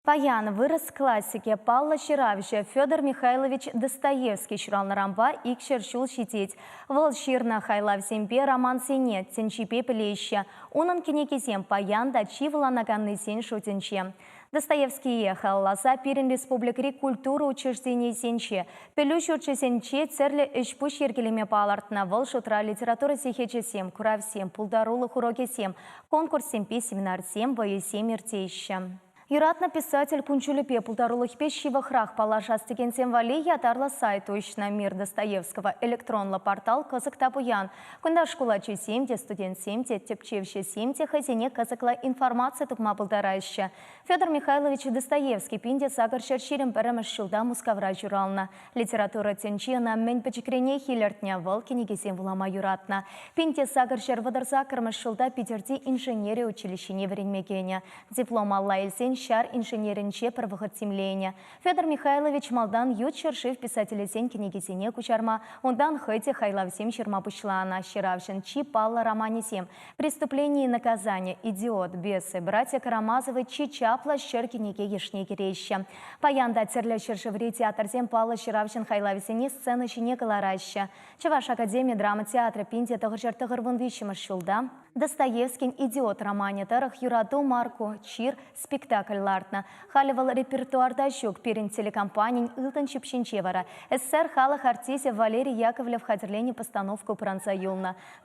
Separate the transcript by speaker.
Speaker 1: Паян вырӑс классикӗ, паллӑ ҫыравҫӑ Федор Михайлович Достоевский ҫуралнӑранпа икҫӗр ҫул ҫитет. Вӑл ҫырнӑ хайлавсемпе романсене тӗнчипе пӗлеҫҫӗ. Унӑн кӗнекисем паян та чи вуланаканнисен шутӗнче. Достоевские халалласа пирӗн республикӑри культура учрежденийӗсенче, пӗлӳ ҫурчӗсенче тӗрлӗ ӗҫ-пуҫ йӗркелеме палӑртнӑ, вӑл шутра литература сехечӗсем, куравсем, пултарулӑх урокӗсем, конкурссемпе семинарсем, вӑйӑсем иртеҫҫӗ. Юратнӑ писатель кун-ҫулӗпе, пултарулӑхӗпе ҫывӑхрах паллашас текенсем валли ятарлӑ сайт уҫнӑ. Мир Достоевского электронлӑ портал кӑсӑк та пуян. Кунта шкул ачисем те, студентсем те, тӗпчевҫӗсем те хӑйсене кӑсӑклӑ информаци тупма пултараҫҫӗ. Федор Михайлович Достоевский пин те сакӑр ҫӗр ҫирӗм пӗрремӗш ҫулта Мускавра ҫуралнӑ. Литература тӗнчи ӑна мӗн пӗчӗкренех илӗртнӗ, вӑл кӗнекесем вулама юратнӑ. Пин те сакӑр ҫӗр вӑтӑр саккӑрмӗш ҫулта Питӗрти инженери училищине вӗренме кӗнӗ. Диплом алла илсен ҫар инженерӗнче пӗр вӑхӑт тимленӗ. Федор Михайлович малтан ют ҫӗршыв писателӗсен кӗнекисене куҫарма, унтан хӑй те хайлавсем ҫырма пуҫланӑ ҫыравҫӑн чи паллӑ романӗсем Преступление и наказание, Идиот, Бесы, Братья Карамазовы чи чаплӑ ҫӗр кӗнеке йышне кӗреҫҫӗ. Паян та тӗрлӗ ҫӗршыври театрсем паллӑ ҫыравҫӑн хайлавӗсене сцена ҫине кӑлараҫҫӗ. Чӑваш академи драма театрӗ пин те тӑхӑрҫӗр тӑхӑр вун виҫҫӗмӗш ҫулта Достоевскин «Идиот» романӗ тӑрӑх «Юрату Марку чир» спектакль лартнӑ. Халӗ вӑл репертуарта ҫук. Пирӗн телекомпанин ылтӑн ҫыпҫинче вара СССР халӑх артисчӗ Валерий Яковлев хатӗрленӗ постановка упранса юлнӑ.